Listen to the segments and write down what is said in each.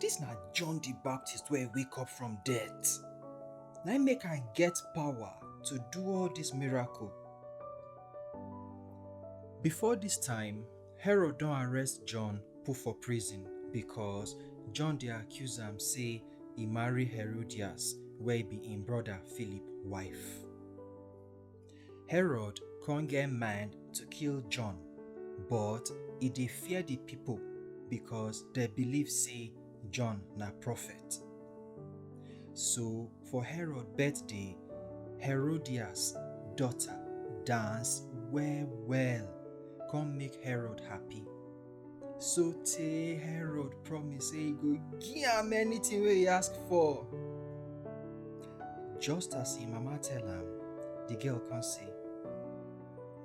This na John the Baptist wey wake up from death. Na im make am get power to do all this miracle. Before this time, Herod don arrest John put for prison because John dey accuse am say e marry Herodias wey be im brother Philip wife. Herod con get mind to kill John, but e dey fear the people because they believe say John na prophet. So for Herod birthday, Herodias daughter dance well well come make Herod happy. So tey Herod promise say he go give am anything wey he ask for. Just as him mama tell am, the girl come say,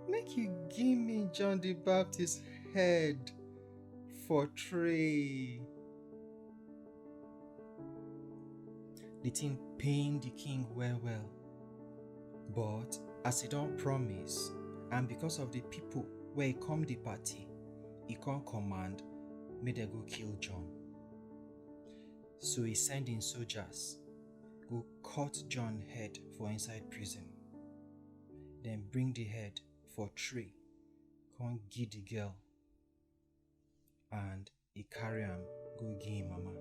Make you give me John the Baptist head for tray. The thing pain the king well well. But as e don promise, and because of the people wey come the party, e come command make dem go kill John. So e send im soldiers go cut John head for inside prison. Dem bring the head for tray, come give the girl and e carry am go give him mama.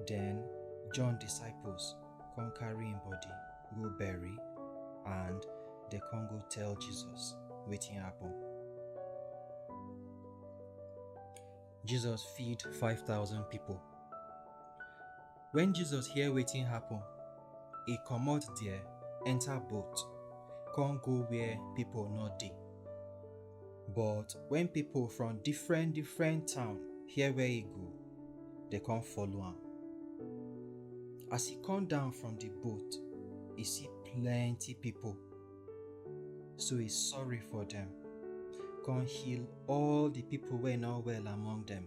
Then John disciples come carry him body go bury and they come go tell Jesus wetin happen. Jesus feed 5,000 people. Wen Jesus hear wetin happen, e comot there, enter boat, con go where people no dey. But wen people from different different town hear where e go, dem con follow am. As e come down from the boat, e see plenty people, so e sorry for dem, con heal all the people wey no well among dem.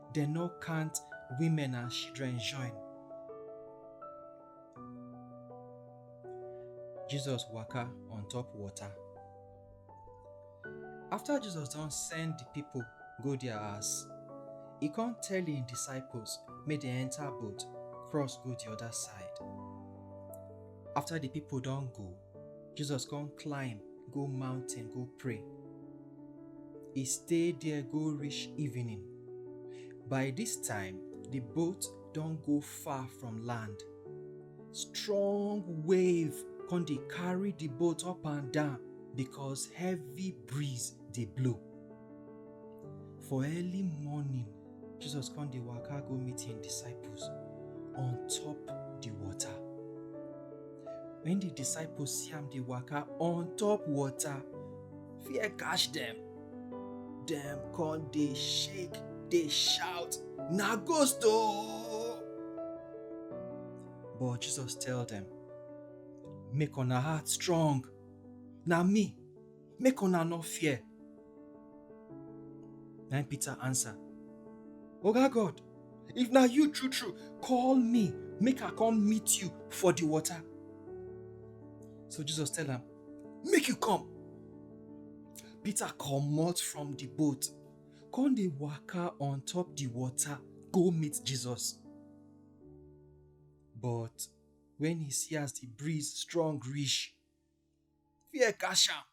dem no count women and children join. Jesus waka on top water. After Jesus don send the people go their house, e come tell im disciples make dem enter boat cross go the other side. After the people don go, Jesus come climb go mountain go pray. He stay there go reach evening. By this time, the boat don go far from land. Strong wave come dey carry the boat up and down because heavy breeze dey blow. For early morning, Jesus come dey waka go meet him disciples on top the water. When the disciples see am dey waka on top water, fear catch them. Dem come dey shake, dey shout, na ghost o! But Jesus tell them, make una heart strong, na me, Make una no fear. Na im Peter answer, Oga God, if na you true true, call me make I come meet you for the water. So Jesus tell am, Make you come. Peter comot from the boat, come dey waka on top the water go meet Jesus. But when he see as the breeze strong reach, fear catch am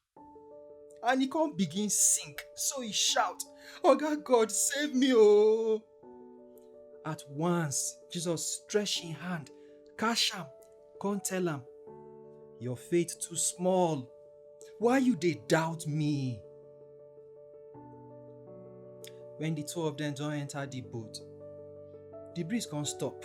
and he come begin sing so he shout oga god save me oo at once jesus stretch him hand catch am come tell am your faith too small why you dey doubt me when the two of them don enter the boat the breeze come stop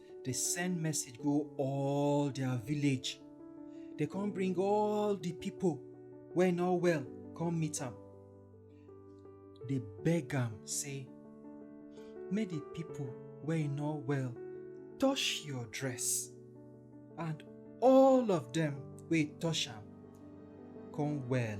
dey send message go all their village dey come bring all the people wey no well come meet am dey beg am say make the people wey no well touch your dress and all of them wey touch am come well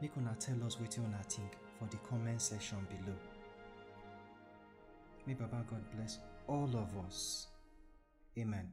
Make una tell us wetin una think for the comment section below. May Baba God bless all of us. Amen.